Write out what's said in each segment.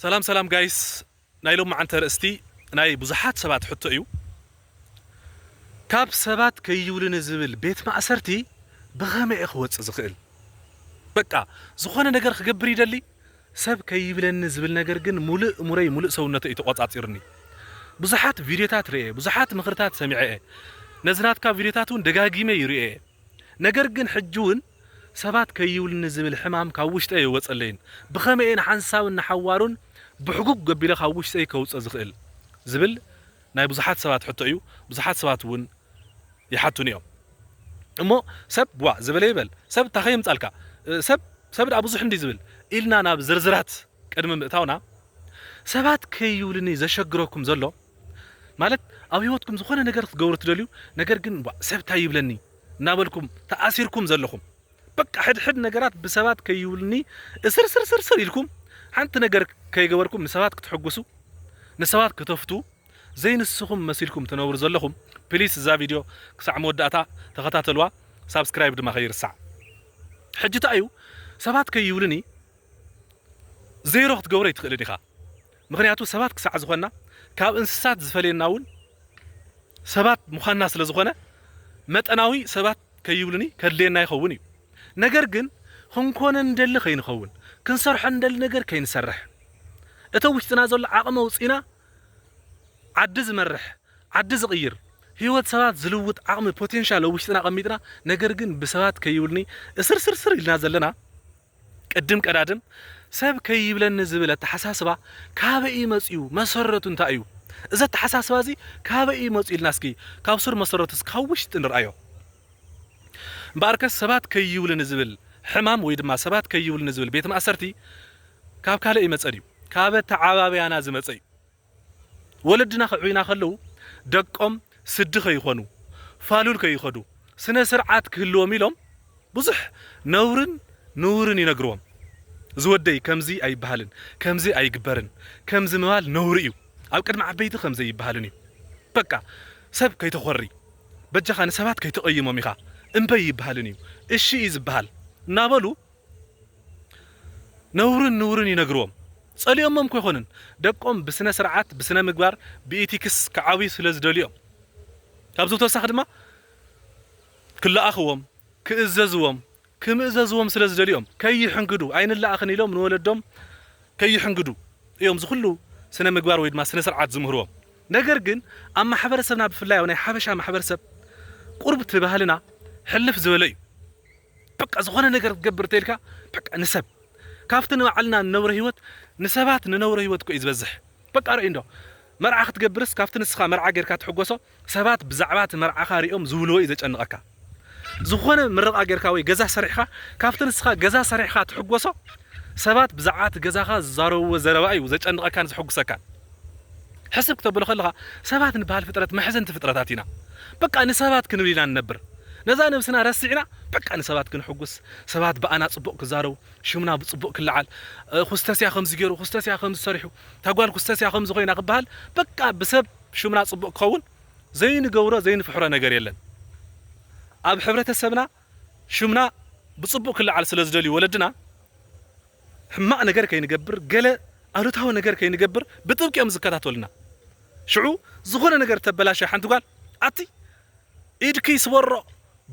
ሰላም ሰላም ጋይስ ናይ ሎምዓንቲ ኣርእስቲ ናይ ብዙሓት ሰባት ሕቶ እዩ ካብ ሰባት ከይብሉኒ ዝብል ቤት ማእሰርቲ ብኸመይ እየ ክወፅእ ዝኽእል በቃ ዝኾነ ነገር ክገብር ይደሊ ሰብ ከይብለኒ ዝብል ነገር ግን ሙሉእ እሙረይ ሙሉእ ሰውነተይ እዩ ተቆፃፂሩኒ ብዙሓት ቪድዮታት ርኤ ብዙሓት ምኽርታት ሰሚዐ እየ ነዚ ናትካ ቪድዮታት እውን ደጋጊመ ይርኤ ነገር ግን ሕጂ እውን ሰባት ከይብሉኒ ዝብል ሕማም ካብ ውሽጠይ ኣይወጸለይን፣ ብኸመይ እየ ንሓንሳብን ንሓዋሩን ብሕጉግ ኣቢለ ካብ ውሽጠይ ከውጽኦ ዝኽእል? ዝብል ናይ ብዙሓት ሰባት ሕቶ እዩ፣ ብዙሓት ሰባት እውን ይሓቱኒ እዮም። እሞ ሰብ ዋእ ዝበለ ይበል፣ ሰብ እታ ከየምጻልካ፣ ሰብ ሰብ ደኣ ብዙሕ እንድዩ ዝብል ኢልና ናብ ዝርዝራት ቅድሚ ምእታውና፣ ሰባት ከይብሉኒ ዘሸግረኩም ዘሎ፣ ማለት ኣብ ህይወትኩም ዝኾነ ነገር ክትገብሩ ትደልዩ፣ ነገር ግን ዋእ ሰብ እንታይ ይብለኒ? እናበልኩም ተኣሲርኩም ዘለኹም በቃ ሕድሕድ ነገራት ብሰባት ከይብሉኒ እስርስርስርስር ኢልኩም ሓንቲ ነገር ከይገበርኩም ንሰባት ክትሕጉሱ ንሰባት ክተፍቱ ዘይንስኹም መሲልኩም ትነብሩ ዘለኹም ፕሊስ እዛ ቪድዮ ክሳዕ መወዳእታ ተኸታተልዋ ሳብስክራይብ ድማ ከይርሳዕ ሕጂ እንታይ እዩ ሰባት ከይብሉኒ ዜሮ ክትገብሮ ኣይትኽእልን ኢኻ ምኽንያቱ ሰባት ክሳዕ ዝኾንና ካብ እንስሳት ዝፈልየና እውን ሰባት ምዃንና ስለ ዝኾነ መጠናዊ ሰባት ከይብሉኒ ከድልየና ይኸውን እዩ ነገር ግን ክንኮነ ንደሊ ከይንኸውን ክንሰርሖ ንደሊ ነገር ከይንሰርሕ እቶ ውሽጥና ዘሎ ዓቕሚ ኣውፂና ዓዲ ዝመርሕ ዓዲ ዝቕይር ህይወት ሰባት ዝልውጥ ዓቕሚ ፖቴንሻል ኣብ ውሽጥና ቀሚጥና ነገር ግን ብሰባት ከይብሉኒ እስርስርስር ኢልና ዘለና ቅድም ቀዳድም ሰብ ከይብለኒ ዝብል ኣተሓሳስባ ካበይ እዩ መፂኡ? መሰረቱ እንታይ እዩ? እዚ ኣተሓሳስባ እዚ ካበይ እዩ መፂኡ ኢልና እስኪ ካብ ሱር መሰረቱስ ካብ ውሽጢ ንርኣዮ። እምበኣርከስ ሰባት ከይብሉኒ ዝብል ሕማም ወይ ድማ ሰባት ከይብሉኒ ዝብል ቤት ማእሰርቲ ካብ ካልእ ኣይመፀን እዩ። ካብ ኣተዓባብያና ዝመፀ እዩ። ወለድና ክዕብዩና ከለዉ ደቆም ስዲ ከይኾኑ፣ ፋሉል ከይኸዱ፣ ስነ ስርዓት ክህልዎም ኢሎም ብዙሕ ነውርን ንውርን ይነግርዎም። እዚ ወደይ ከምዚ ኣይበሃልን፣ ከምዚ ኣይግበርን፣ ከምዚ ምባል ነውሪ እዩ፣ ኣብ ቅድሚ ዓበይቲ ከም ዘይበሃልን እዩ፣ በቃ ሰብ ከይተኾሪ፣ በጃኻ ንሰባት ከይተቐይሞም ኢኻ እምበይ ይበሃልን እዩ፣ እሺ እዩ ዝበሃል እናበሉ፣ ነውርን ንውርን ይነግርዎም ጸሊኦሞም እኮ ኣይኮኑን ደቆም ብስነ ስርዓት ብስነ ምግባር ብኢቲክስ ክዓብዩ ስለ ዝደልዩ እዮም ካብዚ ብተወሳኺ ድማ ክለኣኽዎም ክእዘዝዎም ክምእዘዝዎም ስለ ዝደልዩ እዮም ከይሕንግዱ ኣይንለኣኽን ኢሎም ንወለዶም ከይሕንግዱ እዮም ዝኹሉ ስነ ምግባር ወይ ድማ ስነ ስርዓት ዝምህርዎም ነገር ግን ኣብ ማሕበረሰብና ብፍላይ ኣብ ናይ ሓበሻ ማሕበረሰብ ቁርብቲ ባህልና ሕልፍ ዝበለ እዩ በቃ ዝኾነ ነገር ክትገብር እንተኢልካ በቃ ንሰብ ካብቲ ንባዕልና ንነብሮ ህይወት ንሰባት ንነብሮ ህይወት እኮ እዩ ዝበዝሕ በቃ ርእይ እንዶ መርዓ ክትገብርስ ካብቲ ንስኻ መርዓ ጌርካ ትሕጎሶ ሰባት ብዛዕባ እቲ መርዓኻ ሪኦም ዝብልዎ እዩ ዘጨንቐካ ዝኾነ ምርቓ ጌርካ ወይ ገዛ ሰሪሕኻ ካብቲ ንስኻ ገዛ ሰሪሕኻ ትሕጎሶ ሰባት ብዛዕባ እቲ ገዛኻ ዝዛረብዎ ዘረባ እዩ ዘጨንቐካን ዘሕጉሰካን ሕስብ ክተብሎ ከለኻ ሰባት ንበሃል ፍጥረት መሕዘንቲ ፍጥረታት ኢና በቃ ንሰባት ክንብል ኢና ንነብር ነዛ ነብስና ረሲዕና በቃ ንሰባት ክንሕጉስ ሰባት ብኣና ጽቡቅ ክዛረቡ ሽምና ብጽቡቅ ክለዓል ኩስተስያ ከምዚ ጌሩ ኩስተስያ ከምዚ ሰሪሑ እታ ጓል ኩስተስያ ከምዚ ኮይና ክበሃል በቃ ብሰብ ሽምና ጽቡቅ ክኸውን ዘይንገብሮ ዘይንፍሕሮ ነገር የለን ኣብ ሕብረተሰብና ሽምና ብጽቡቅ ክለዓል ስለ ዝደልዩ ወለድና ሕማቅ ነገር ከይንገብር ገለ ኣሉታዊ ነገር ከይንገብር ብጥብቂ እዮም ዝከታተሉና ሽዑ ዝኾነ ነገር ተበላሸ ሓንቲ ጓል ኣቲ ኢድኪ ይስበሮ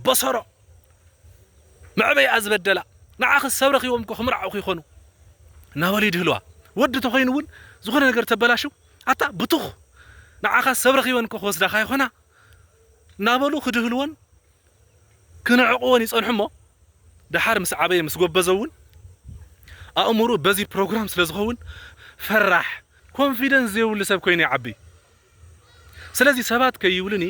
በሰሮ መዕበይኣ ዝበደላ ንዓኺ ሰብ ረኺቦም እኮ ክምርዓውኺ ይኾኑ እናበሉ ይድህልዋ ወዲ ተኾይኑ እውን ዝኾነ ነገር ተበላሽው ኣታ ብቱኽ ንዓኻ ሰብ ረኺበን እኮ ክወስዳኻ ይኾና እናበሉ ክድህልዎን ክንዕቕዎን ይጸንሑ እሞ ደሓር ምስ ዓበየ ምስ ጎበዘ እውን ኣእምርኡ በዚ ፕሮግራም ስለ ዝኸውን ፈራሕ ኮንፊደንስ ዘይብሉ ሰብ ኮይኑ ይዓቢ ስለዚ ሰባት ከይብሉኒ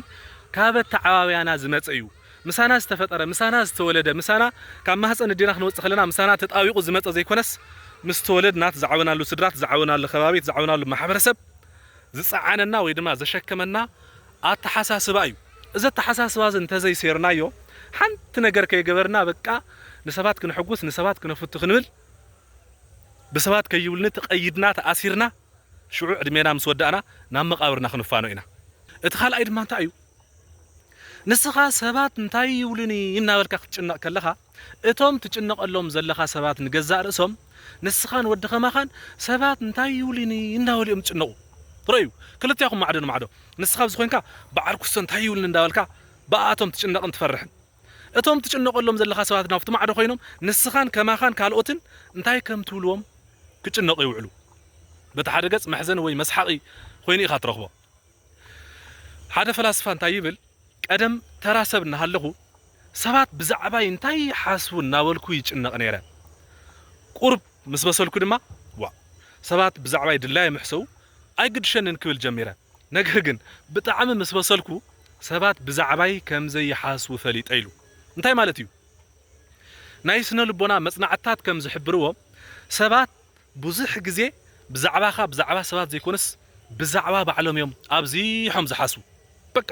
ካብ ኣተዓባብያና ዝመጸ እዩ ምሳና ዝተፈጠረ ምሳና ዝተወለደ ምሳና ካብ ማህጸን እዴና ክንወጽእ ከለና ምሳና ተጣቢቑ ዝመጸ ዘይኮነስ ምስ ተወለድና ዝዓበናሉ ስድራ ዝዓበናሉ ከባቢ ዝዓበናሉ ማሕበረሰብ ዝጸዓነና ወይ ድማ ዘሸከመና ኣተሓሳስባ እዩ። እዚ ኣተሓሳስባ እዚ እንተዘይሴርናዮ፣ ሓንቲ ነገር ከይገበርና በቃ ንሰባት ክነሕጉስ፣ ንሰባት ክነፍቱ ክንብል፣ ብሰባት ከይብሉኒ ተቐይድና፣ ተኣሲርና፣ ሽዑ ዕድሜና ምስ ወዳእና ናብ መቓብርና ክንፋኖ ኢና። እቲ ካልኣይ ድማ እንታይ እዩ፣ ንስኻ ሰባት እንታይ ይብሉኒ እናበልካ ክትጭነቕ ከለኻ፣ እቶም ትጭነቐሎም ዘለኻ ሰባት ንገዛእ ርእሶም ንስኻን ወዲ ከማኻን ሰባት እንታይ ይብሉኒ እንዳበሉ እዮም ዝጭነቑ ርኣዩ ክልቴኹም ማዕዶ ንማዕዶ ንስኻ ኣብዚ ኮንካ በዓል ኩስቶ እንታይ ይብሉኒ እንዳበልካ ብኣኣቶም ትጭነቕን ትፈርሕን እቶም ትጭነቐሎም ዘለኻ ሰባት ናብቲ ማዕዶ ኮይኖም ንስኻን ከማኻን ካልኦትን እንታይ ከም ትብልዎም ክጭነቑ ይውዕሉ በቲ ሓደ ገፅ መሕዘኒ ወይ መስሓቒ ኮይኑ ኢኻ ትረኽቦ። ሓደ ፈላስፋ እንታይ ይብል፣ ቀደም ተራ ሰብ እናሃለኹ፣ ሰባት ብዛዕባይ እንታይ ይሓስቡ እናበልኩ ይጭነቕ ነይረ። ቁሩብ ምስ በሰልኩ ድማ፣ ዋእ! ሰባት ብዛዕባይ ድላዮም ይሕሰቡ፣ ኣይግድሸንን ክብል ጀሚረ። ነገር ግን ብጣዕሚ ምስ በሰልኩ፣ ሰባት ብዛዕባይ ከም ዘይሓስቡ ፈሊጠ ኢሉ። እንታይ ማለት እዩ? ናይ ስነ-ልቦና መጽናዕትታት ከም ዝሕብርዎ፣ ሰባት ብዙሕ ግዜ ብዛዕባኻ ብዛዕባ ሰባት ዘይኮነስ ብዛዕባ ባዕሎም እዮም ኣብዚሖም ዝሓስቡ በቃ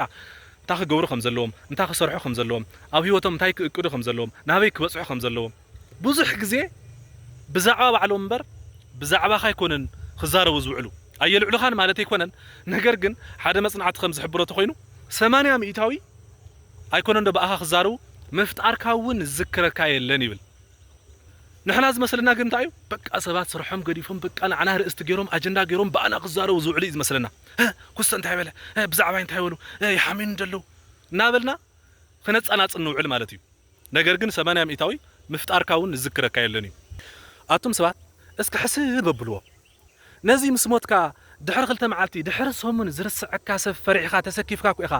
እንታይ ክገብሩ ከም ዘለዎም እንታይ ክሰርሑ ከም ዘለዎም ኣብ ሂወቶም እንታይ ክእቅዱ ከም ዘለዎም ናበይ ክበጽሑ ከም ዘለዎም ብዙሕ ግዜ ብዛዕባ ባዕሎም እምበር ብዛዕባኻ ኣይኮኑን ክዛረቡ ዝውዕሉ ኣየልዕሉኻን ማለት ኣይኮነን ነገር ግን ሓደ መጽናዕቲ ከም ዝሕብሮ ተኾይኑ ሰማንያ ሚኢታዊ ኣይኮነንዶ ብኣኻ ክዛረቡ ምፍጣርካ እውን ዝዝክረካ የለን ይብል። ንሕና ዝመስለና ግን እንታይ እዩ በቃ ሰባት ስርሖም ገዲፎም በቃ ንዓና ኣርእስቲ ጌሮም ኣጀንዳ ጌሮም ብኣና ክዛረቡ ዝውዕሉ እዩ ዝመስለና እ ኩስተ እንታይ በለ እ ብዛዕባይ እንታይ በሉ እ ይሓምዩኒ ደለዉ እናበልና ክነጻናጽ ንውዕል ማለት እዩ ነገር ግን ሰማንያ ሚእታዊ ምፍጣርካ ውን ዝዝክረካ የለን እዩ ኣቱም ሰባት እስኪ ሕስብ ኣብልዎ ነዚ ምስ ሞትካ ድሕሪ ክልተ መዓልቲ፣ ድሕሪ ሰሙን ዝርስዐካ ሰብ ፈሪሕኻ ተሰኪፍካ እኮ ኢኻ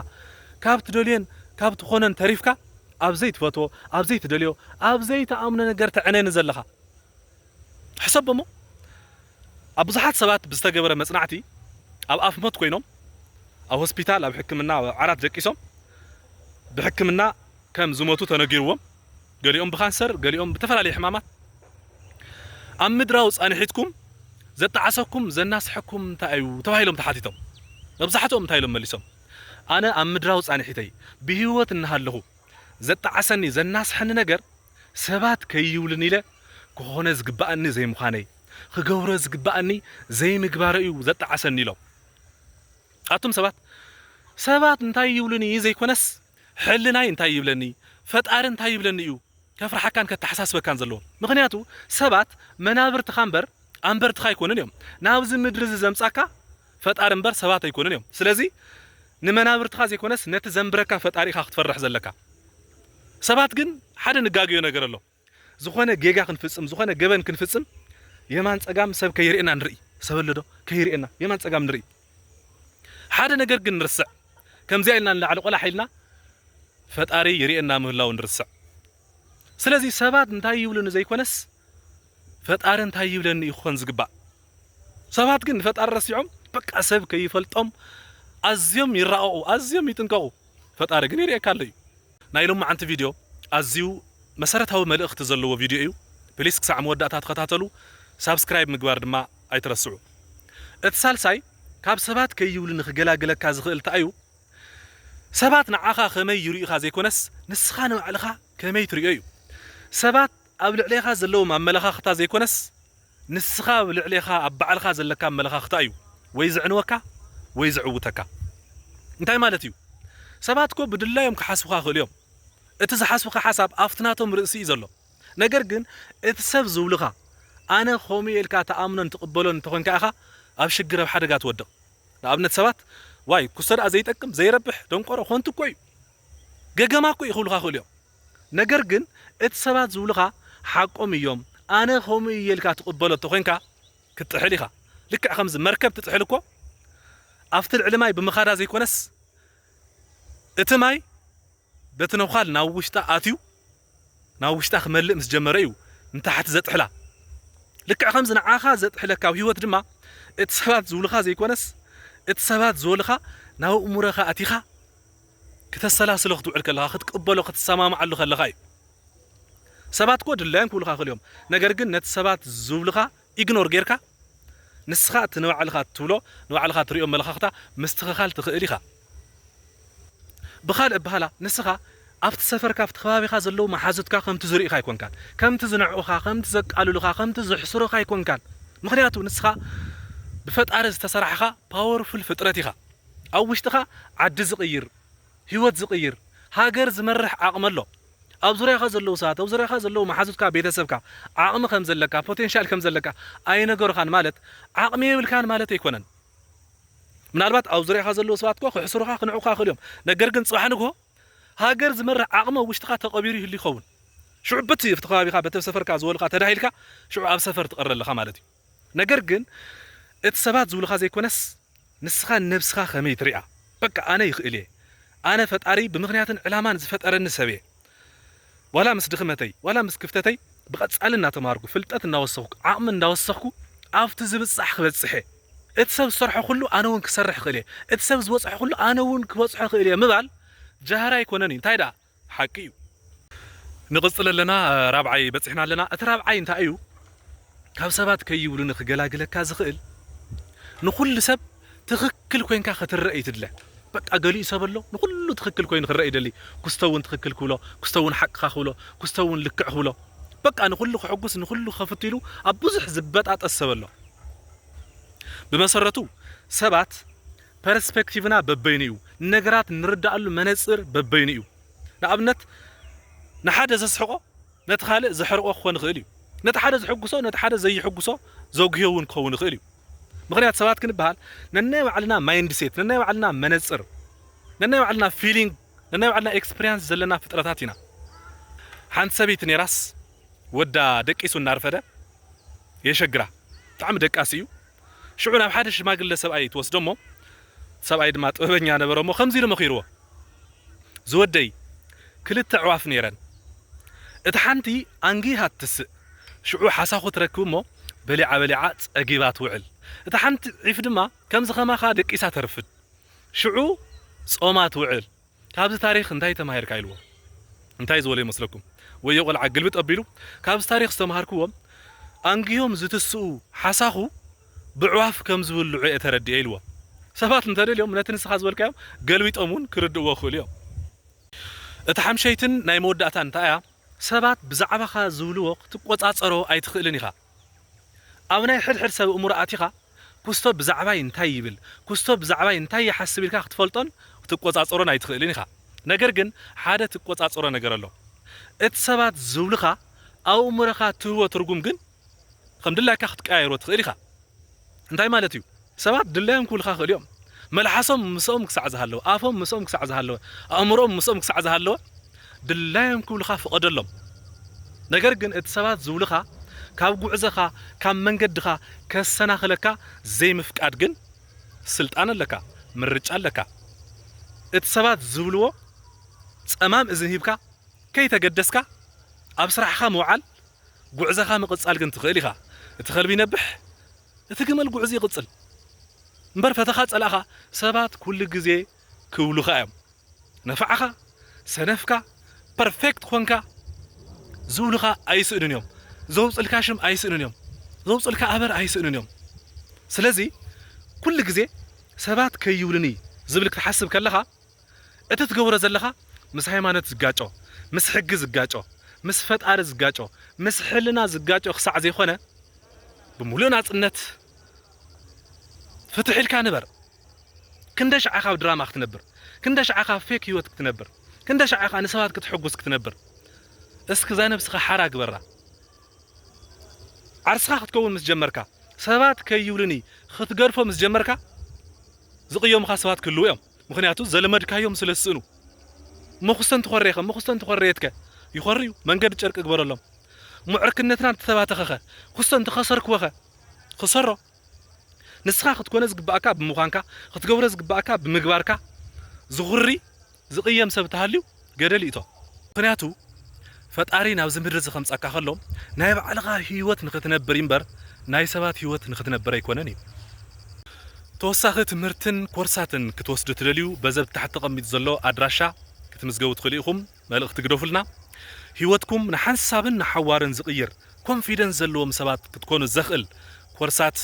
ካብ ትደልዮን ካብ ትኾኖን ተሪፍካ ኣብ ዘይትፈትዎ፣ ኣብ ዘይትደልዮ፣ ኣብ ዘይትኣምኖ ነገር ተዕነኒ ዘለኻ። ሕሰቦ እሞ ኣብ ብዙሓት ሰባት ብዝተገበረ መጽናዕቲ ኣብ ኣፍ ሞት ኮይኖም ኣብ ሆስፒታል ኣብ ሕክምና ኣብ ዓራት ደቂሶም ብሕክምና ከም ዝሞቱ ተነጊርዎም፣ ገሊኦም ብካንሰር ገሊኦም ብተፈላለየ ሕማማት ኣብ ምድራዊ ፃንሒትኩም ዘጣዓሰኩም ዘናሰሐኩም እንታይ እዩ ተባሂሎም ተሓቲቶም መብዛሕትኦም እንታይ ኢሎም መሊሶም ኣነ ኣብ ምድራዊ ፃንሒተይ ብህይወት እናሃለኹ ዘጣዓሰኒ ዘናሰሐኒ ነገር ሰባት ከይብሉኒ ኢለ ክኾነ ዝግበኣኒ ዘይምዃነይ ክገብሮ ዝግበኣኒ ዘይምግባረይ እዩ ዘጣዓሰኒ ኢሎም ኣቱም ሰባት ሰባት እንታይ ይብሉኒ ዘይኮነስ ሕልናይ እንታይ ይብለኒ ፈጣሪ እንታይ ይብለኒ እዩ ከፍርሓካን ከተሓሳስበካን ዘለዎ ምኽንያቱ ሰባት መናብርትኻ እምበር ኣንበርትኻ ኣይኮኑን እዮም ናብዚ ምድሪ እዚ ዘምጻካ ፈጣሪ እምበር ሰባት ኣይኮኑን እዮም ስለዚ ንመናብርትኻ ዘይኮነስ ነቲ ዘንብረካ ፈጣሪ ኢኻ ክትፈርሕ ዘለካ ሰባት ግን ሓደ ንጋገዮ ነገር ኣሎ ዝኾነ ጌጋ ክንፍጽም ዝኾነ ገበን ክንፍጽም የማን ጸጋም ሰብ ከይርእየና ንርኢ ሰብ ኣለዶ ከይርእየና የማን ጸጋም ንርኢ ሓደ ነገር ግን ንርስዕ ከምዚኣ ኢልና ንላዕሊ ቆላሕ ኢልና ፈጣሪ ይርእየና ምህላው ንርስዕ ስለዚ ሰባት እንታይ ይብሉኒ ዘይኮነስ ፈጣሪ እንታይ ይብለኒ እዩ ክኾን ዝግባእ ሰባት ግን ንፈጣሪ ረሲዖም በቃ ሰብ ከይፈልጦም ኣዝዮም ይራቐቑ ኣዝዮም ይጥንቀቑ ፈጣሪ ግን ይርእየካ ኣሎ እዩ ናይ ሎማዓንቲ ቪድዮ ኣዝዩ መሰረታዊ መልእኽቲ ዘለዎ ቪድዮ እዩ ፕሊስ ክሳዕ መወዳእታ ተኸታተሉ ሳብስክራይብ ምግባር ድማ ኣይትረስዑ እቲ ሳልሳይ ካብ ሰባት ከይብሉ ንክገላግለካ ዝኽእል ታኣዩ ሰባት ንዓኻ ከመይ ይሪኡኻ ዘይኮነስ ንስኻ ንባዕልኻ ከመይ ትሪኦ እዩ ሰባት ኣብ ልዕሌኻ ዘለዎም ኣመለኻኽታ ዘይኮነስ ንስኻ ኣብ ልዕሌኻ ኣብ ባዕልኻ ዘለካ ኣመለኻኽታ እዩ ወይ ዘዕንወካ ወይ ዘዕውተካ። እንታይ ማለት እዩ? ሰባት እኮ ብድላዮም ክሓስቡኻ ይኽእሉ እዮም። እቲ ዝሓስቡኻ ሓሳብ ኣብቲ ናቶም ርእሲ እዩ ዘሎ። ነገር ግን እቲ ሰብ ዝብሉኻ ኣነ ከምኡ እየ ኢልካ ትኣምኖን ትቕበሎን እንተኾይንካ ኢኻ ኣብ ሽግር ኣብ ሓደጋ ትወድቕ። ንኣብነት ሰባት ዋይ ኩሰ ደኣ ዘይጠቅም ዘይረብሕ ደንቆሮ ኮንቱ እኮ እዩ ገገማ እኮ እዩ ክብሉኻ ይኽእሉ እዮም። ነገር ግን እቲ ሰባት ዝብሉኻ ሓቆም እዮም ኣነ ከምኡ እየ ኢልካ ትቅበሎ እተኮይንካ ክትጥሕል ኢኻ ልክዕ ከምዚ መርከብ ትጥሕል እኮ ኣብቲ ልዕሊ ማይ ብምኻዳ ዘይኮነስ እቲ ማይ በቲ ነዃል ናብ ውሽጣ ኣትዩ ናብ ውሽጣ ክመልእ ምስ ጀመረ እዩ ንታሕቲ ዘጥሕላ ልክዕ ከምዚ ንዓኻ ዘጥሕለካ ኣብ ህይወት ድማ እቲ ሰባት ዝብሉኻ ዘይኮነስ እቲ ሰባት ዝበሉኻ ናብ እእሙረኻ ኣቲኻ ክተሰላስሎ ክትውዕል ከለኻ ክትቅበሎ ክትሰማማዓሉ ከለኻ እዩ ሰባት እኮ ድላዮም ክብሉኻ ይኽእሉ እዮም ነገር ግን ነቲ ሰባት ዝብሉኻ ኢግኖር ጌርካ ንስኻ እቲ ንባዕልኻ እትብሎ ንባዕልኻ እትሪኦ ኣመለኻኽታ ምስትኽኻል ትኽእል ኢኻ ብኻልእ ኣበሃህላ ንስኻ ኣብቲ ሰፈርካ ኣብቲ ከባቢኻ ዘለዉ መሓዙትካ ከምቲ ዝሪኡኻ ኣይኮንካን ከምቲ ዝንዕቑኻ ከምቲ ዘቃልሉኻ ከምቲ ዝሕስሩኻ ኣይኮንካን ምኽንያቱ ንስኻ ብፈጣሪ ዝተሰራሕኻ ፓወርፉል ፍጥረት ኢኻ። ኣብ ውሽጥኻ ዓዲ ዝቕይር፣ ህይወት ዝቕይር፣ ሃገር ዝመርሕ ዓቕሚ ኣሎ። ኣብ ዙርያኻ ዘለዉ ሰባት፣ ኣብ ዙርያኻ ዘለዉ መሓዙትካ፣ ቤተሰብካ፣ ዓቕሚ ከም ዘለካ፣ ፖቴንሻል ከም ዘለካ ኣይነገሩኻን ማለት ዓቕሚ የብልካን ማለት ኣይኮነን። ምናልባት ኣብ ዙርያኻ ዘለዉ ሰባት እኳ ክሕስሩኻ፣ ክንዕቑኻ ይኽእሉ እዮም። ነገር ግን ጽባሕ ንግሆ ሃገር ዝመርሕ ዓቕሚ ኣብ ውሽጥኻ ተቐቢሩ ይህሉ ይኸውን። ሽዑ በቲ ኣብቲ ከባቢኻ፣ በቲ ኣብ ሰፈርካ ዝበሉኻ ተዳሂልካ ሽዑ ኣብ ሰፈር ትቐሪ ኣለኻ ማለት እዩ። ነገር ግን እቲ ሰባት ዝብሉኻ ዘይኮነስ ንስኻ ንነብስኻ ከመይ ትሪኣ በቃ ኣነ ይኽእል እየ ኣነ ፈጣሪ ብምኽንያትን ዕላማን ዝፈጠረኒ ሰብ እየ ዋላ ምስ ድኽመተይ ዋላ ምስ ክፍተተይ ብቐጻሊ እናተማሃርኩ ፍልጠት እናወሰኽኩ ዓቕሚ እንዳወሰኽኩ ኣብቲ ዝብጻሕ ክበጽሕ እየ እቲ ሰብ ዝሰርሖ ኩሉ ኣነ ውን ክሰርሕ እኽእል እየ እቲ ሰብ ዝበጽሖ ኩሉ ኣነ ውን ክበጽሖ እኽእል እየ ምባል ጃህራ ኣይኮነን እዩ እንታይ ደኣ ሓቂ እዩ ንቅጽል ኣለና ራብዓይ በጺሕና ኣለና እቲ ራብዓይ እንታይ እዩ ካብ ሰባት ከይብሉኒ ክገላግለካ ዝኽእል ንኹሉ ሰብ ትኽክል ኮንካ ክትረእ እዩ ትድለ በቃ ገሊኡ ሰብ ኣሎ ንኹሉ ትኽክል ኮይኑ ክረእ ይደሊ ኩስቶ እውን ትኽክል ክብሎ ኩስቶ እውን ሓቅኻ ክብሎ ኩስቶ እውን ልክዕ ክብሎ በቃ ንኹሉ ክሕጉስ ንኹሉ ከፍቱ ኢሉ ኣብ ብዙሕ ዝበጣጠስ ሰብ ኣሎ ብመሰረቱ ሰባት ፐርስፐክቲቭና በበይኑ እዩ። ንነገራት እንርድኣሉ መነጽር በበይኑ እዩ። ንኣብነት፣ ንሓደ ዘስሕቖ ነቲ ካልእ ዘሕርቖ ክኾን ይኽእል እዩ። ነቲ ሓደ ዘሕጉሶ ነቲ ሓደ ዘዩሕጉሶ ዘጉህዮ እውን ክኸውን ይኽእል እዩ። ምኽንያቱ ሰባት ክንበሃል ነናይ ባዕልና ማይንድሴት፣ ነናይ ባዕልና መነጽር፣ ነናይ ባዕልና ፊሊንግ፣ ነናይ ባዕልና ኤክስፕሪያንስ ዘለና ፍጥረታት ኢና። ሓንቲ ሰበይቲ ነይራስ ወዳ ደቂሱ እናርፈደ የሸግራ። ብጣዕሚ ደቃሲ እዩ። ሽዑ ናብ ሓደ ሽማግለ ሰብኣይ ትወስዶ እሞ፣ ሰብኣይ ድማ ጥበበኛ ነበረ እሞ ከምዚ ኢሉ መኺርዎ፣ ዝወደይ፣ ክልተ ኣዕዋፍ ነይረን፣ እታ ሓንቲ ኣንጊሃ ትትስእ፣ ሽዑ ሓሳኹ ትረክብ እሞ፣ በሊዓ በሊዓ ጸጊባ ትውዕል፣ እታ ሓንቲ ዒፍ ድማ ከምዚ ከማኻ ደቂሳ ተርፍድ፣ ሽዑ ጾማ ትውዕል። ካብዚ ታሪኽ እንታይ ተማሂርካ ኢልዎ እንታይ ዝበሎ ይመስለኩም ወዮ ቆልዓ ግልብጥ ኣቢሉ ካብዚ ታሪኽ ዝተማሃርክዎ ኣንጊሆም ዝትስኡ ሓሳኹ ብዕዋፍ ከም ዝብልዑ እየ ተረዲኤ ኢልዎ ሰባት እንተደልዮም ነቲ ንስኻ ዝበልካዮም ገልቢጦም ውን ክርድእዎ ይኽእሉ እዮም እታ ሓምሸይትን ናይ መወዳእታን እንታይ እያ ሰባት ብዛዕባኻ ዝብልዎ ክትቆጻጸሮ ኣይትኽእልን ኢኻ ኣብ ናይ ሕድሕድ ሰብ እእምሮ ኣቲኻ ኩስቶ ብዛዕባይ እንታይ ይብል፣ ኩስቶ ብዛዕባይ እንታይ ይሓስብ ኢልካ ክትፈልጦን ክትቆጻጸሮን ኣይትኽእልን ኢኻ። ነገር ግን ሓደ ትቆጻጸሮ ነገር ኣሎ። እቲ ሰባት ዝብሉኻ ኣእምሮኻ እትህቦ ትርጉም ግን ከም ድላይካ ክትቀያይሮ ትኽእል ኢኻ። እንታይ ማለት እዩ? ሰባት ድላዮም ክብሉኻ ይኽእሉ እዮም። መልሓሶም ምስኦም ክሳዕ ዝሃለወ፣ ኣፎም ምስኦም ክሳዕ ዝሃለወ፣ ኣእምሮኦም ምስኦም ክሳዕ ዝሃለወ ድላዮም ክብሉኻ ፍቐደሎም። ነገር ግን እቲ ሰባት ዝብሉኻ ካብ ጉዕዘኻ፣ ካብ መንገድኻ ከሰናኽለካ ዘይምፍቃድ ግን ስልጣን ኣለካ፣ ምርጫ ኣለካ። እቲ ሰባት ዝብልዎ ጸማም እዝኒ ሂብካ ከይተገደስካ ኣብ ስራሕኻ ምውዓል፣ ጉዕዘኻ ምቕጻል ግን ትኽእል ኢኻ። እቲ ከልቢ ይነብሕ፣ እቲ ገመል ጉዕዙ ይቕጽል እምበር ፈተኻ ጸላእኻ ሰባት ኩሉ ግዜ ክብሉኻ እዮም ነፋዕኻ ሰነፍካ ፐርፌክት ኾንካ ዝብሉኻ ኣይስእኑን እዮም ዘውጽልካ ሽም ኣይስእኑን እዮም ዘውጽልካ ኣበር ኣይስእኑን እዮም ስለዚ ኩሉ ግዜ ሰባት ከይብሉኒ ዝብል ክትሓስብ ከለኻ እቲ ትገብሮ ዘለኻ ምስ ሃይማኖት ዝጋጮ፣ ምስ ሕጊ ዝጋጮ፣ ምስ ፈጣሪ ዝጋጮ፣ ምስ ሕልና ዝጋጮ ክሳዕ ዘይኮነ ብምሉእ ናጽነት ፍትሕ ኢልካ ንበር። ክንደሻዕ ኢኻ ኣብ ድራማ ክትነብር? ክንደሻዕ ኢኻ ኣብ ፌክ ህይወት ክትነብር? ክንደሻዕ ኢኻ ንሰባት ከተሕጉስ ክትነብር? እስኪ እዛ ነብስኻ ሓራ ግበራ። ዓርስኻ ክትከውን ምስ ጀመርካ፣ ሰባት ከይብሉኒ ክትገድፎ ምስ ጀመርካ ዝቕየሙኻ ሰባት ክህልዉ እዮም። ምኽንያቱ ዘለመድካዮም ስለ ዝስእኑ። መኹስተን ትኾርየኸ? መኹስተን ተኾርየትከ? ይኾርዩ፣ መንገዲ ጨርቂ ግበረሎም። እሞ ዕርክነትና እንተተባተኸኸ? ኩስቶ እንተኸሰርክወኸ? ኽሰሮ። ንስኻ ክትኮነ ዝግበኣካ ብምዃንካ፣ ክትገብሮ ዝግበኣካ ብምግባርካ ዝኹሪ፣ ዝቕየም ሰብ እንተሃልዩ፣ ገደል ይእቶ ምክንያቱ ፈጣሪ ናብዚ ምድሪ እዚ ከምጻካ ከሎ ናይ ባዕልካ ሂወት ንክትነብር ኢምበር ናይ ሰባት ሂወት ንክትነብር ኣይኮነን እዩ ተወሳኪ ትምህርትን ኮርሳትን ክትወስዱ ትደልዩ በዚ ኣብ ታሕቲ ተቀሚጡ ዘሎ ኣድራሻ ክትምዝገቡ ትክእሉ ኢኩም መልእክቲ ግደፉልና ሂወትኩም ንሓንሳብን ንሓዋሩን ዝቅይር ኮንፊደንስ ዘለዎም ሰባት ክትኮኑ ዘክእል ኮርሳት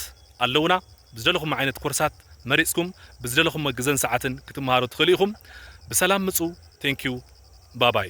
ኣለዉና ብዝደለኹሞ ዓይነት ኮርሳት መሪጽኩም ብዝደለኹሞ ግዘን ሰዓትን ክትመሃሩ ትኽእሉ ኢኹም ብሰላም ምጹ thank you ባባይ።